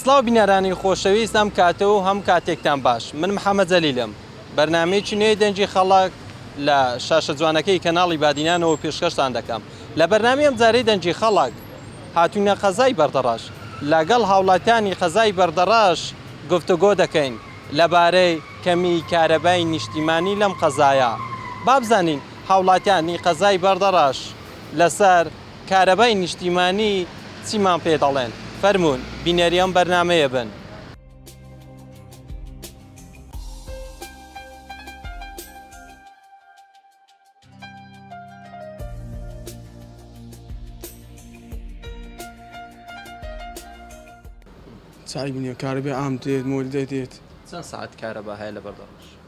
سڵاو بینەرانی خۆشەویست ئەم کاتە و هەم کاتێکتان باش من محمد جەلیلم بەرنامەیەکی نوێی دەنگی خەڵک لە شاشە جوانەکەی کەناڵی بادینانەوە پێشکەشتان دەکەم لە بەرنامی ئەم جارەی دەنگی خەڵک هاتوینە قەزای بەردەڕەش لەگەڵ هاوڵاتیانی قەزای بەردەڕەش گفتوگۆ دەکەین لەبارەی کەمی کارەبای نیشتیمانی لەم قەزایە بابزانین هاوڵاتیانی قەزای بەردەڕەش لەسەر کارەبای نیشتیمانی چیمان پێ دەڵێن فەرموون بینەری ئەم بەرنامەیە بن. چای بنێ کارەبای عام دێت مۆل دەدێت. چەند سەعات کارەبا هەیە لەبەردەڕۆژ؟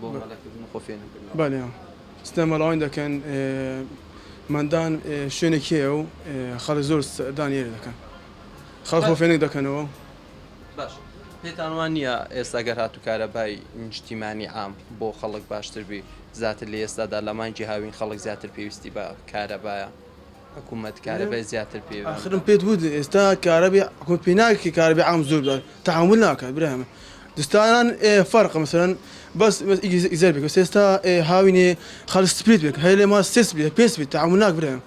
بۆ مەلەکردن و خۆ فێر نەکردنەوە. بەلی ستە مەلاوانی دەکەن مەندان شوێنێک هەیە و خەڵک زۆر ستەدانی لێ دەکەن خەڵک خۆ فێنک دەکەنەوە. باشە پێتان وا نییە ئێستا گەر هاتوو کارەبای نیشتیمانی عام بۆ خەڵک باشتر بی زاتر لە ئێستادا لە مانگی هاوین خەڵک زیاتر پێویستی بە کارەبایە حکومەت کارەبای زیاتر پێ ئاخرم پێت وت ئێستا کارەبی حکومەت پێ ناکرێ کارەبی عام زۆر بدات تەحەمول ناکات برای من دستانان فەرقە مثلا بەس ئیزەر بێت ئێستا هاوینێ خەل سپریت بێت هەیە لێ ما سێ سپریت پێ سپریت تەحەمول ناک برای من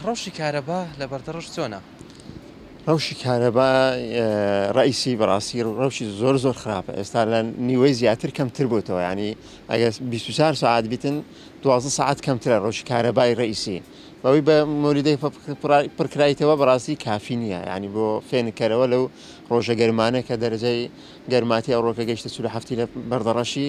ڕەوشی کارەبا لە بەردەڕەش چۆنە؟ ڕەوشی کارەبا ڕئیسی بەڕاستی ڕەوشی زۆر زۆر خراپە ئێستا لە نیوەی زیاتر کەمتر بۆتەوە ینی ئەگە 24 ساعت بیتن دوازە ساعت کەمترە ڕەوشی کارەبای ڕئیسی بەوەی بە مۆریدەی پڕکرایتەوە بەڕاستی کافی نییە ینی بۆ فێنکەرەوە لەو ڕۆژە گەرمانە کە دەرجەی گەرماتی ئەوڕۆکە گەشتە سول هەفتی لە بەردەڕەشی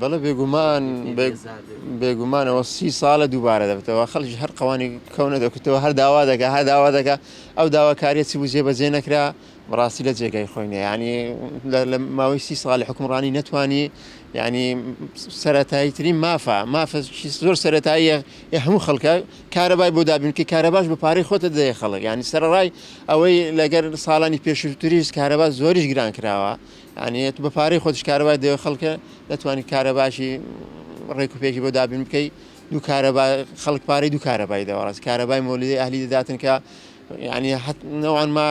بەڵێ بێگومان بێگومان ئەوە سی ساڵە دووبارە دەبێتەوە خەڵکی هەر قەوانی کەونە دەکوتەوە هەر داوا دەکە هەر داوا دەکە ئەو داواکاریە چی بجێ بەجێ نەکرا بەڕاستی لە جێگای خۆینە ینی لە ماوەی سی ساڵی حکومڕانی نەتوانی ینی سەتایی ترین مافە مافەکی زۆر سەتاییە هەموو خەڵکە کارەبای بۆ دابینکە کارەباش بە پارەی خۆتە دەیە خەڵک ینی سەرڕای ئەوەی لەگەر ساڵانی پێشتریش کارەبا زۆریش گران کراوە یانی تو بە پارەی خۆتیش کارەبای دەوێت خەڵکە دەتوانی کارەباشی ڕێک و پێکی بۆ دابین بکەی دوو کارەبا خەڵک پارەی دوو کارەبای دەوەڕاست کارەبای مۆلیدەی ئەهلی دەداتن کە یعنی نەوان ما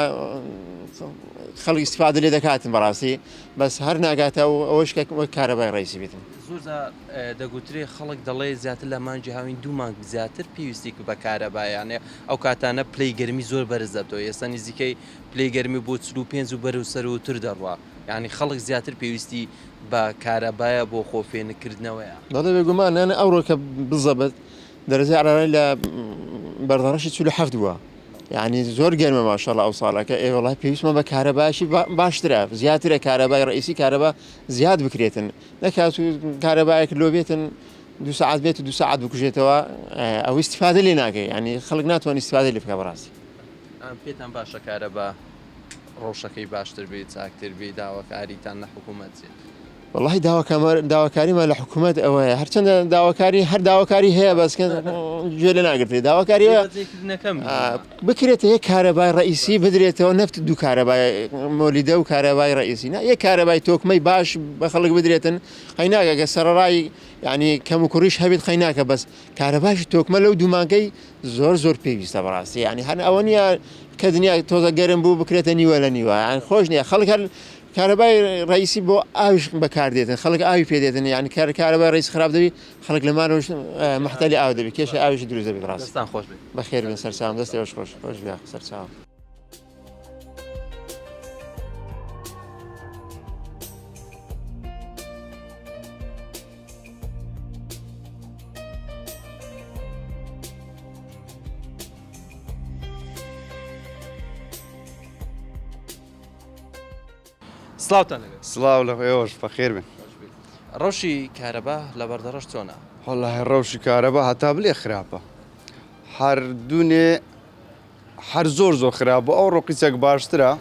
خەڵک استفادە لێ دەکاتن بەڕاستی بەس هەر ناگاتە و ئەوەش کە وەک کارەبای ڕیسی بێتن زۆرزا دەگوترێ خەڵک دەڵێ زیاتر لە مانجی هاوین دوو مانگ زیاتر پێویستی بە کارەبایانێ ئەو کاتانە پلەی گەرمی زۆر بەرز دەتەوە ئێستا نزیکەی پلەی گەرمی بۆ چل و پێنج و بەرەو سەرووتر دەڕوا، یانی خەڵک زیاتر پێویستی بە کارەبایە بۆ خۆ فێنک کردنەوەیە. بەڵێ بێگومان، یانە ئەوڕۆ کە بزەبت دەرەجەی عەرارەی لە بەرزانشی چل و حەفت بووە، یانی زۆر گەرمە ماشاءاللە ئەو ساڵە کە ئێ وەڵای پێویستمان بە کارەبایەکی باشترە زیاترە کارەبای ڕئیسی کارەبا زیاد بکرێتن نەکات و کارەبایەک لۆ بێتن دوو سەعات بێت و دوو سەعات بکوژێتەوە ئەوەی استفادە لێ ناکەی یانی خەڵک ناتوانانی استفادەی لێ بکا بەڕاستی. پێتان باشە کارەبا ڕەوشەکەی باشتر بی چاکتر بی داواکاریتان لە حکومەت چیە؟ وەڵاهی داواکامان داواکاریمان لە حکومەت ئەوەیە هەرچەندە داواکاری هەر داواکاری هەیە بەس کە گوێ لە ناگرێ داواکاری هەیە جێکردنەکەم آه، بکرێتە یەک کارەبای ڕئیسی بدرێتەوە نەفت دوو کارەبای مۆلیدە و کارەبای ڕئیسی نا یەک کارەبای تۆکمەی باش بە خەڵک بدرێتن قەیناگەگە سەرڕای یعنی کەم و کوڕیش هەبێت قەیناکە بەس کارەباشی تۆکمە لەو دوو مانگەی زۆر زۆر پێویستە بەڕاستی یانی هەن ئەوە نیە کە دنیا تۆزە گەرم بوو بکرێتە نیوە لە نیوە یان خۆش نیە خەڵک هەر کارەبای ڕیسی بۆ ئاویش بەکاردێتن خەڵک ئاوی پێدێتن یان کار کارەبای ڕیس خراپ دەبی خەڵک لە ماەوە محتالی ئاو دەبی کێشە ئاویش دروزە بڕاستان خۆش بخێرن سەرسام دەستی خۆش خۆش سەرچاو. سلااوان سلااو لە ئێوەش فەخێر بن ڕەوشی کارەبا لە بەردەڕەش چۆنە هەڵە ڕەوشی کارەبا هەتا بلێ خراپە هەردوونێ هەر زۆر زۆر خراپ بوو ئەو ڕۆقی چەک باشترە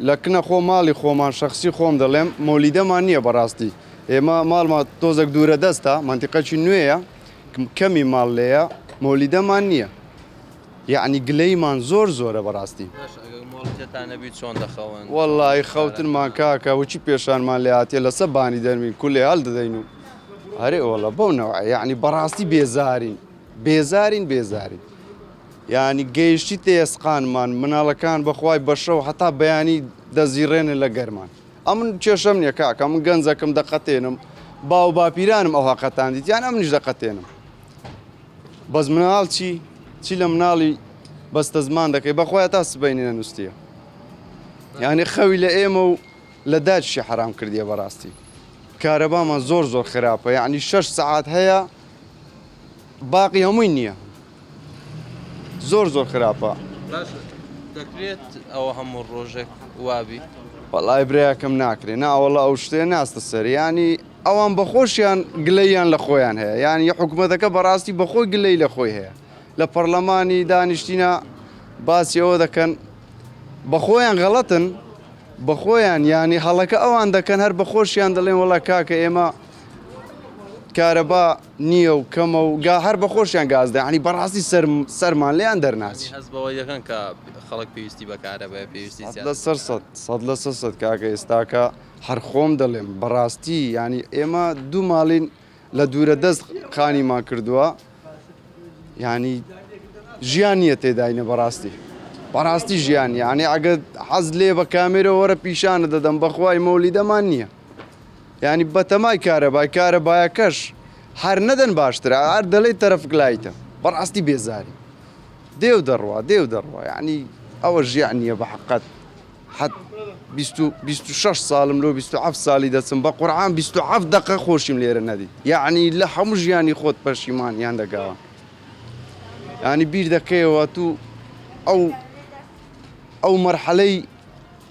لە کنە خۆ ماڵی خۆمان شەخسی خۆم دەڵێم مۆلیدەمان نییە بەڕاستی ئێمە ماڵمە تۆزەک دوورە دەستە مەنتیقەکی نوێیە کەمی ماڵ لێە مۆلیدەمان نییە یعنی گلەیمان زۆر زۆرە بەڕاستی وەڵی خەوتنمان کاکە وچی پێشانمان لاتێ لەسە بانی دەرمین کولێ هەل دەدەین و هەرێ وەڵە بەو نەوە یعنی بەڕاستی بێزارین بێزارین بێزارین یانی گەیشتیتە ئێسقانمان مناڵەکان بەخوای بەشەو هەتا بەیانی دەزیڕێنن لە گەرمان ئەمن کێشەم نیە کاکە من گەنجەکەم دەقەتێنم باو باپیرانم ئەو هەقەتان دیت یان ئەمنیش دەقەتێنم بەس مناڵ چی چی لە مناڵی بەستە زمان دەکەی بەخوای تا سبینی نەنووسە یعنی خەوی لە ئێمە و لە داچشی حرام کردیە بەڕاستی کارەبامان زۆر زۆر خراپە یعنی شش سعات هەیە باقی هەمووی نییە زۆر زۆر خراپە. باشە دەکرێت ئەوە هەموو ڕۆژێک وابی. وەڵای برایەکەم ناکرێ ناوەڵا ئەو شتێ ناستە سەر ینی ئەوان بەخۆشیان گلەییان لە خۆیان هەیە یان یە حکوومەتەکە بەڕاستی بەخۆی گلەی لە خۆی هەیە لە پەرلەمانی دانیشتینە باسی ئەوە دەکەن بەخۆیان غەڵەتن بەخۆیان ینی هەڵەکە ئەوان دەکەن هەر بەخۆشیان دەڵێن وڵا کاکە ئێمە کارەبا نیە و کەمە و گا هەر بە خۆشیان گاز دەن یانی بەڕاستی سەر سەرمان لێیان دەرناچی. هەست بەوە دەکەن کە خەڵک پێویستی بە کارەبای پێویستی سەد لە سەر سەد سەد لە سەر سەد کاکە ئێستاکە هەر خۆم دەڵێم بەڕاستی یانی ئێمە دوو ماڵین لە دوورە دەست خانیمان کردووە یانی ژیان نیە تێداینە بەڕاستی بەڕاستی ژیان یانی ئەگەر حەز لێ بە کامێرە وەرە پیشانە دەدەم بەخوای مۆلیدەمان نیە. یانی بەتەمای کارەبای کارەبایەکەش هەر نەدەن باشترە هەر دەڵێی تەرەفک لایتە بەڕاستی بێزاری دێو دەڕوا دێو دەڕوا یعنی ئەوە ژیان نییە بە حقت حەت 26 ساڵم لۆ 27 ساڵی دەچم بە قورعان 27 دقە خۆشیم لێرە نەدی یعنی لە هەموو ژیانی خۆت پەشیمان یان دەگاوە ینی بیر دەکەیەوە تو ئەو ئەو مەرحەلەی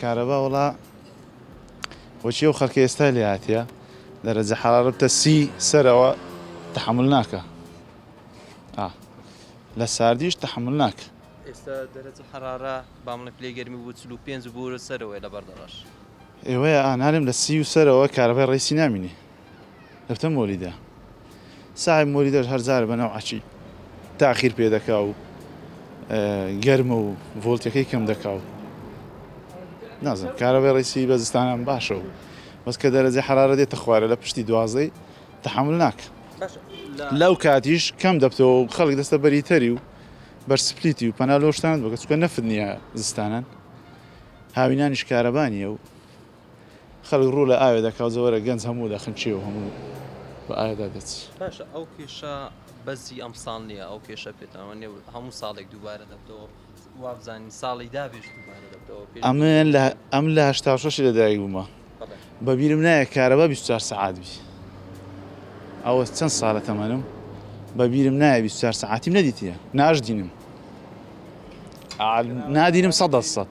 کارەبا وڵا وەچی و خەکە ئێستا لێ هااتە دەرەجە حەڵاربتە سی سەرەوە تحمل ناکە لە ساردیش تحمل ناکە ئێستا دەرەجە حەرارە بامڵە پلی گەرمی بوو چلو پێنج بورە سەرەوەی لە بەردەڕەش ئێوەیە ئانارم لە سی و سەرەوە کارەبای ڕیسی نامینی دەبتە مۆلیدە ساحێب مۆلیدەش هەر جارە بە نەوعەکی تاخیر پێ دەکا و گەرمە و ڤۆلتەکەی کەم دەکا و نازم کارەبێ ڕیسی بە زستانان باشە و بەس کە دەرەجە حرارە دێتە خوارە لە پشتی دوازەی تحمل ناک لەو کاتیش کەم دەبتەوە و خەڵک دەستە بەری تەری و بەرسپلیتی و پەنا لۆشتان بگە چکە نەفت نییە زستانان هاوینانیش کارەبانیە و خەلک ڕوو لە ئاوێ دەکاو جەوەرە گەنج هەموو لە خنکێ و هەموو بە ئاوێدا دەچ. باشە ئەو کێشە بەس هی ئەمساڵ نیە ئەو کێشە پێتان وانیە هەموو ساڵێک دووبارە دەبتەوە وابزانین ساڵی دابێش دووبارە دەبتەوە ئەمن لە ئەم لە هەشتا و شەشی لەدایک بوومە بەبیرم نایە کارەبا بیست و چوار سەعات بی ئەوە چەند ساڵە تەمەنم بەبیرم نایە بیست و چوار سەعاتیم نەدیتیە ناشدینم نادینم سەد دەسەد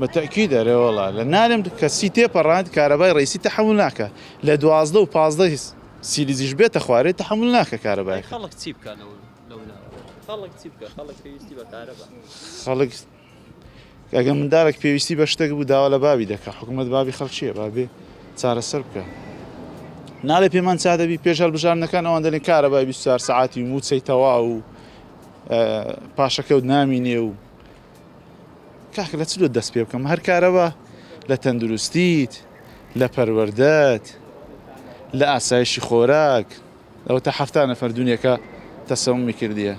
بە تەئکید ئەرێ وەڵا لە نارم کە سی تێپەڕاند کارەبای ڕەیسی تەحەمول ناکا لە دوازدە و پازدە سیلیزیش بێتە خوارێ تەحەمول ناکە کارەبای ئەی خەڵک چی بکا لەو لەو ناوە خەڵک چی بکا خەڵک پێویستی بە کارەبا خەڵک ئەگە مندارێک پێویستی بە شتێک بوو داوا لە باوی دەکە حکوومەت باوی خەڵکیە بابێ چارەسەر بکە نالێ پێمان چا دەبی پێش هەلبژاردنەکان ئەوان دەلێن کارەبای 24 سعاتی موچەی تەواو و پاشەکەوت نامینێ و کاکە لە چ لۆ دەست پێ بکەم هەر کارەبا لە تەندروستیت لە پەروەردەت لە ئاسایشی خۆراک ئەوە تا حەفتا نەفەر دونیەکە تەسەومی کردیە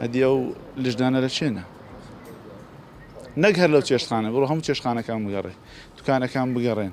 ئەدی ئەو لژدانە لە چێنە نەک هەر لەو چێشخانە بڕۆ هەموو چێشخانەکان بگەڕێ دوکانەکان بگەڕێن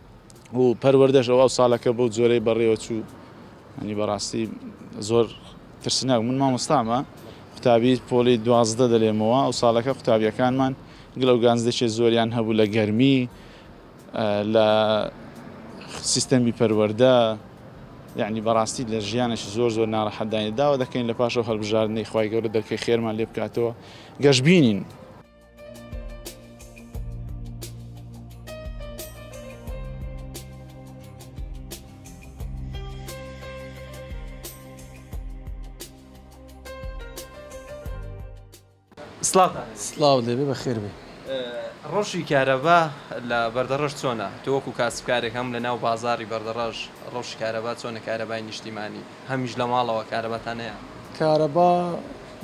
و پەروەردەش ئەو ساڵەکە بەو جۆرەی بەڕێوە چوو ئەنی بەڕاستی زۆر ترسناک من مامۆستامە قوتابی پۆلی دوازدە دەلێمەوە ئەو ساڵەکە قوتابیەکانمان گلە و گانزدەێ زۆریان هەبوو لە گەرمی لە سیستەمی پەروەەردە یعنی بەڕاستی لە ژیانێکی زۆر زۆر ناڕەحەدانی داوا دەکەین لە پاشەوە هەڵبژاردنەی خی گەورە دەکەی خێرمان لێ بکاتەوە گەشببینین سڵاو دەبێ بە خێربێ ڕۆژی کارەبا لە بەردەڕەش چۆنە تۆوەکو کاسبکارێک هەم لە ناو بازاری بەردەڕەش ڕۆژ کارەبا چۆنە کارەبای نیشتیمانی هەمیش لە ماڵەوە کارەباتان هەیە؟ کارەبا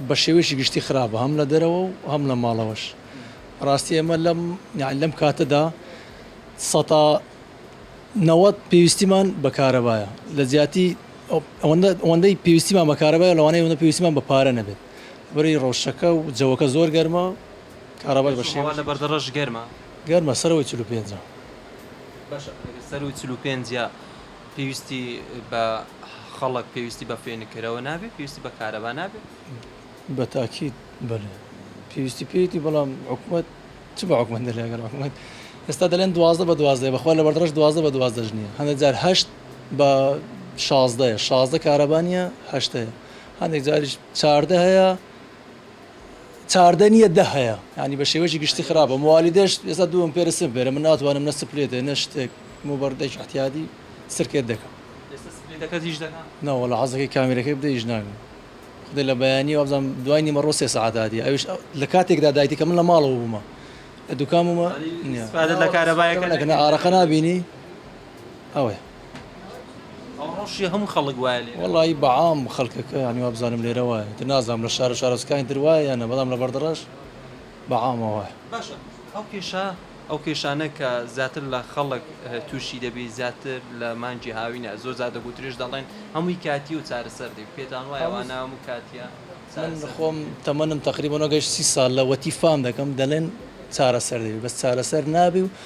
بە شێوەیەکی گشتی خراپە هەم لە دەرەوە و هەم لە ماڵەوەش بەڕاستی ئێمە لەم یانی لەم کاتەدا سەتا نەوەد پێویستیمان بە کارەبایە لە جیاتی ئەوەندە ئەوەندەی پێویستیمان بە کارەبایە لەوانەیە ئەوەندە پێویستیمان بە پارە نەبێت بەرەی ڕەوشەکە و جەوەکە زۆر گەرمە کارەبای بە شێوە هەوا لە بەردەڕەش گەرمە؟ گەرمە سەرەوەی چل و پێنجە. باشە ئەگەر سەرووی چل و پێنجە پێویستی بە خەڵک پێویستی بە فێنککەرەوە نابێت پێویستی بە کارەبا نابێت؟ بە تاکید بەلێ پێویستی پێیتی بەڵام حکومت چ بە حکومت دەلێگەر حکومت ئێستا دەلێن دوازدە بە دوازدە بەخوا لە بەردڕش دوازدە بە دوازدەش نیە هەندێک جار هەشت بە شازدەیە شازدە کارەبانە هەشتەیە هەندێک جاریش چاردە هەیە چاردە نیە دە هەیە یانی بە شێوەیەکی گشتی خراپە موالیدەش ئێستا دوو ئەمپێرە سم بێرە من ناتوانم نە سپلێتێ نە شتێک مو بەردێکی احتیادی سرکێت دەکەم ئێستا سپلێتەکەت ئیش دەکا؟ نەوەڵا حەزەکەی کامیرەکەی بدە ئیش ناکا خودێ لە بەیانی وابزانم دوای نیمەڕۆ سێ سەعات هاتی ئەویش لە کاتێکدا دایتی کە من لە ماڵەوە بوومە لە دوکان بوومە ئیسفادەت لە کارەبایەکە نەکرد؟ ئارەقە نابینی ئەوەیە. ئەوە ڕەوشی هەموو خەڵک وایە لێرە. وەڵایی بە عام خەڵکەکە یانی وابزانم لێرە وایە ئیتر نازانم لە شارە شارۆچکانی تر وایە یان نا بەڵام لە بەردەڕەش بە عامە وایە. باشە ئەو کێشە ئەو کێشانە کە زیاتر لە خەڵک تووشی دەبی زیاتر لە مانگی هاوینە زۆر جار دەگوترێش دەڵێن هەمووی کاتیە و چارەسەر دێ پێتان وایە وانە هەموو کاتیە چارەسەر دێ؟ من خۆم تەمەنم تەقریبەن وەگەشت سی ساڵ لە وەتی فام دەکەم دەلێن چارەسەر دەبی بەس چارەسەر نابی و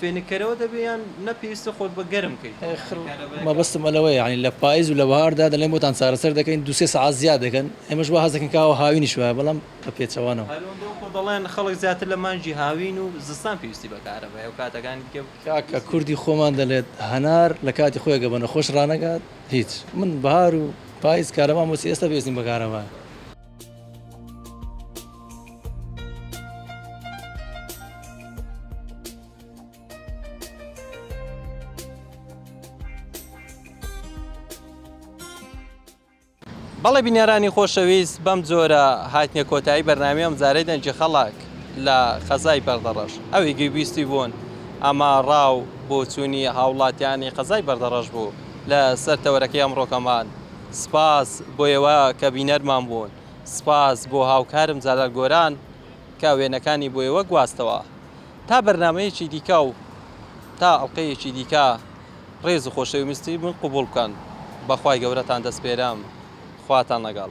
فێنککەرەوە دەبێ یان نە پێویستە خۆت بە گەرم کەیت؟ ئەخر مەبەستم ئەلەوەیە یانی لە پایز و لە بەهاردا دەلێن بۆتان چارەسەر دەکەین دوو سێ سەعات زیاد دەکەن ئێمەش وا هەست دەکەین کە ئاو هاوینیش وایە بەڵام بە پێچەوانەوە. هەرەوەندەو خۆ دەڵێن خەڵک زیاتر لە مانگی هاوین و زستان پێویستی بە کارەبایە و کاتەکانی دیکە پێویستی نیە. کاکە کوردی خۆمان دەلێت هەنار لە کاتی خۆی ئەگە بە نەخۆش رانەگات هیچ من بەهار و پایز کارەبام بۆچی ئێستا پێویستیم بە کارەبایە. بەڵێ بینەرانی خۆشەویست بەم جۆرە هاتنە کۆتایی بەرنامی ئەم زارەی دەنجی خەڵک لە خەزای بەردەڕەش ئەوی گویبیستی بوون ئەمە ڕاو بۆچوونی هاوڵاتیانی قەزای بەردەڕەش بوو لە سەر تەوەرەکەی ئەمڕۆکەمان سپاس بۆ ئێوە کە بینەرمان بوون. سپاس بۆ هاوکارم جەلال گۆران کە وێنەکانی بۆ ئێوە گواستەوە. تا بەرنامەیەکی دیکە و تا ئەڵقەیەکی دیکە ڕێز و خۆشەویستی من قبوڵ بکەن. بە خوای گەورەتان دەسپێرم. خواتان لەگەڵ.